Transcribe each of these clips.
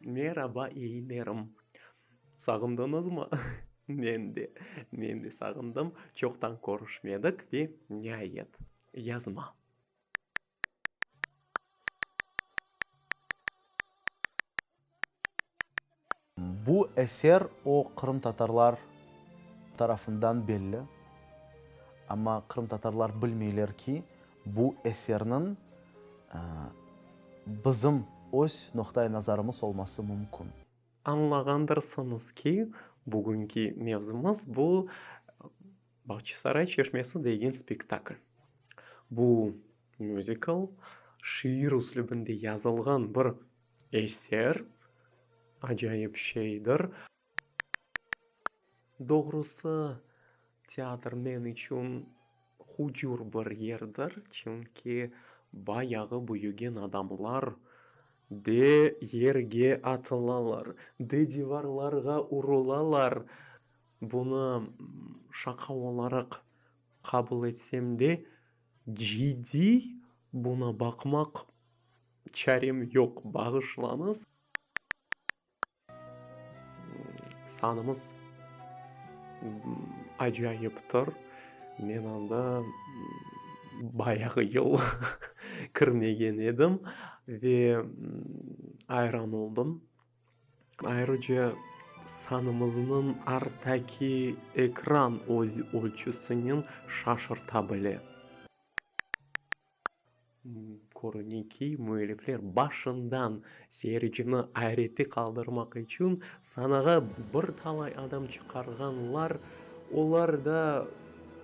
Meraba iyilerim. Sağındınızmı? Men de, men de sağındım. Çoqtan körüşmedik ve niayet, yazma. Bu eser o qırımtatarlar tarafından belli, amma qırımtatarlar bilmeyler ki, bu eserniñ bizim öz noqta-i nazarımız olması mümkün. Añlağandırsıñız ki, bugünki mevzumız bu Bağçasaray çeşmesi degen spektakl. Bu müzikl şiir üslübinde yazılğan bir Eser acayip şeydir. Doğrusı, teatr men içün hucur bir yerdir, çünki bayağı büyügen adamlar de yerge atılalar, de divarlarğa urulalar. Bunı şaqa olaraq qabul etsem de, ciddiy buna baqmaq. Çarem yoq, bağışlañız. Sanımız acayıptır. Men anda bayağı yıl kirmegen edim ve ayran oldım. Ayrıca sanımıznıñ arttaki ekran öz ölçüsinen şaşırta bile. Körüne ki, müellifler başından seyircini ayreti qaldırmaq içün sanağa bir talay adam çıqarğanlar, olar da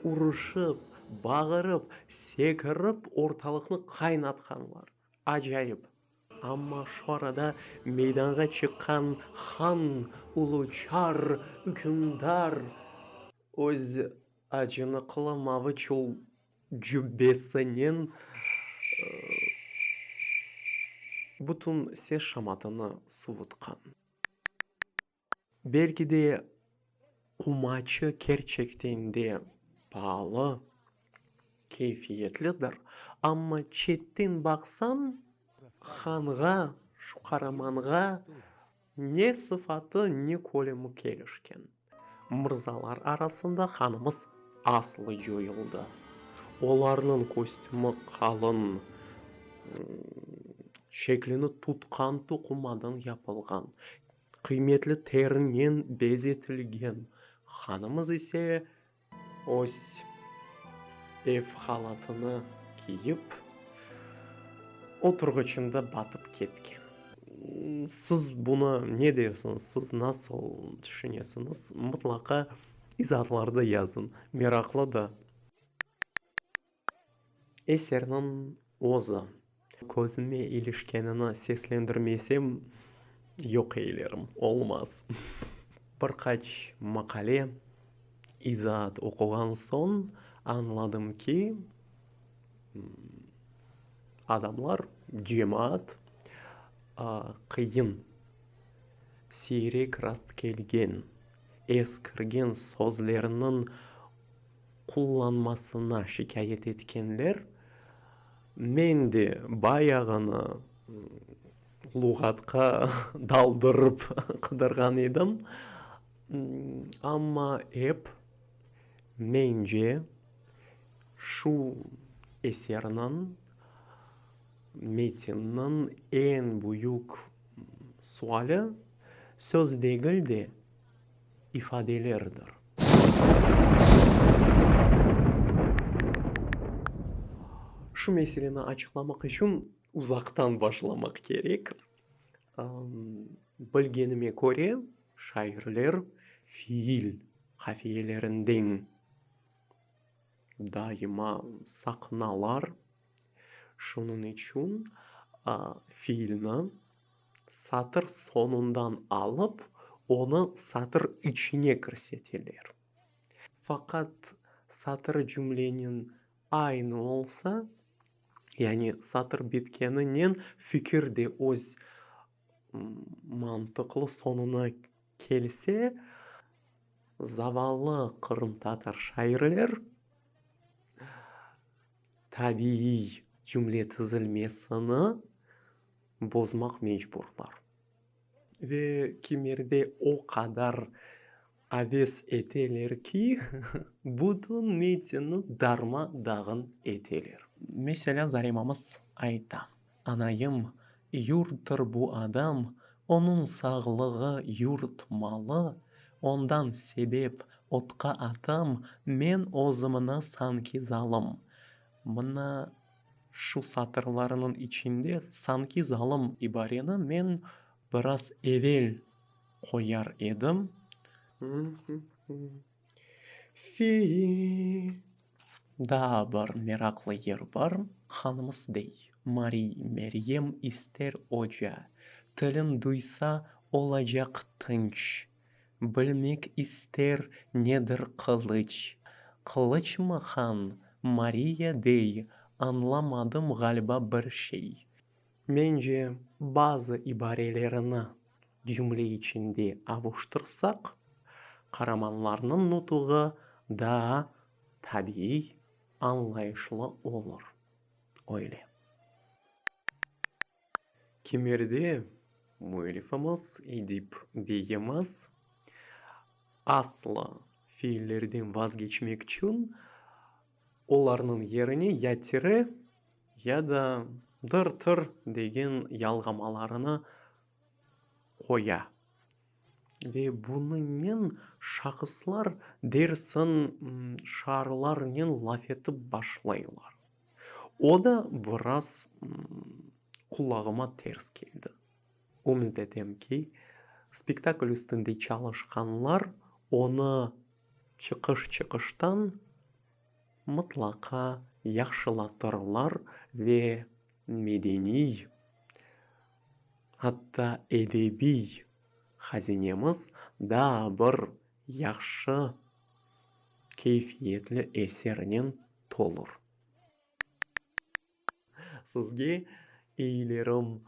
uruşıp, bağırıp, sekirip ortalıqnı qaynatqanlar. Acayip! Amma şu arada meydanğa çıqqan han, ulu çar, ükümdar öz acınıqlı maviçul. cübbesinen bütün ses şamatını suvutqan. Belki de, qumaçı kerçekten de paalı, keyfiyetlidir, amma çetten baqsañ, hanğa, şu qaramanğa, Ne sıfatı, ne kölemi kelişken mırzalar arasında hanımız aslı coyuldı. Olarnıñ kostümü qalın, şeklini tutqan toqumadan yapılğan, qıymetli terinen bezetilgen, hanımız ise, Öz ev halatını kiyip, oturğıçında batıp ketken. Siz bunı ne dersiniz? Siz nasıl tüşünesiniz? Mıtlaqa izaatlarda yazıñ. Meraqlı da. Eserniñ özü, közüme ilişkenini seslendirmesem, yoq eylerim, olmaz. Bir qaç maqale, izaat oquğan soñ añladım ki, adamlar, cemaat qıyın, siyrek rastkelgen, eskirgen sözlerniñ qullanmasına şikâyet etkenler, men de bayağını luğatqa daldırıp qıdırğan edim, amma ep, mence, şu eserniñ, metinniñ eñ büyük suali, söz degil de, ifadelerdir. Şu meseleni açıqlamaq içün uzaqtan başlamaq kerek. Bilgenime köre, şairler fiil qafiyelerinden daima saqınalar. Şunıñ içün fiilni satır soñundan alıp, onı satır içine kirseteler. Faqat satır cümleniñ aynı olsa, yani satır bitkeninen fikir de öz mantıqlı soñuna kelse, zavallı qırımtatar şairler tabiiy cümle tizilmesini, bozmaq mecburlar. Ve kimerde o qadar aves eteler ki, bütün metinni darma-dağın eteler. Meselâ, Zarimamız ayta, Anayım, yurttır bu adam, onıñ sağlığı, yurt malı, ondan sebep otqa atam, men özümni sanki zalım. Mına, Şu satırlarınıñ içinde sanki zalım ibareni men biraz evel qoyar edim. Fil. Daa bir meraqlı yer bar. Hanımız dey, Mariy Meryem ister oca, tilin duysa, olacaq tınç. Bilmek ister nedir qılıç. Qılıçmı han, Mariya dey, añlamadım ğaliba bir şey. Mence, bazı ibarelerini cümle içinde avuştırsaq, qaramanlarnıñ nutuğı daa tabiiy, añlayışlı olur. Öyle. Kemerde müellifimiz Edip Begimiz aslı fiillerden vazgeçmek içün olarnıñ yerine ya tire, ya da dır-tır degen yalğamalarını qoya. Ve bunıñnen şahıslar dersin şaarlarnen laf etip başlaylar. O da biraz qulağıma ters keldi. Ümüt etem ki, spektakl üstünde çalışqanlar onı çıqış-çıqıştan mıtlaqa yahşılatırlar ve medeniy Atta edebiy hazinemiz daa bir yahşı keyfiyetli esernen tolur. Sizge eyilerim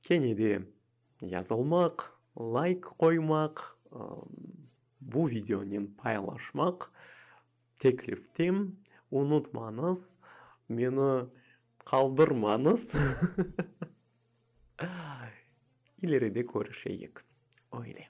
kene de yazılmaq, layk qoymaq, bu videonen paylaşmaq. Teklifte, Unutmañız, meni qaldırmañız, ileride körüşeyik, öyle.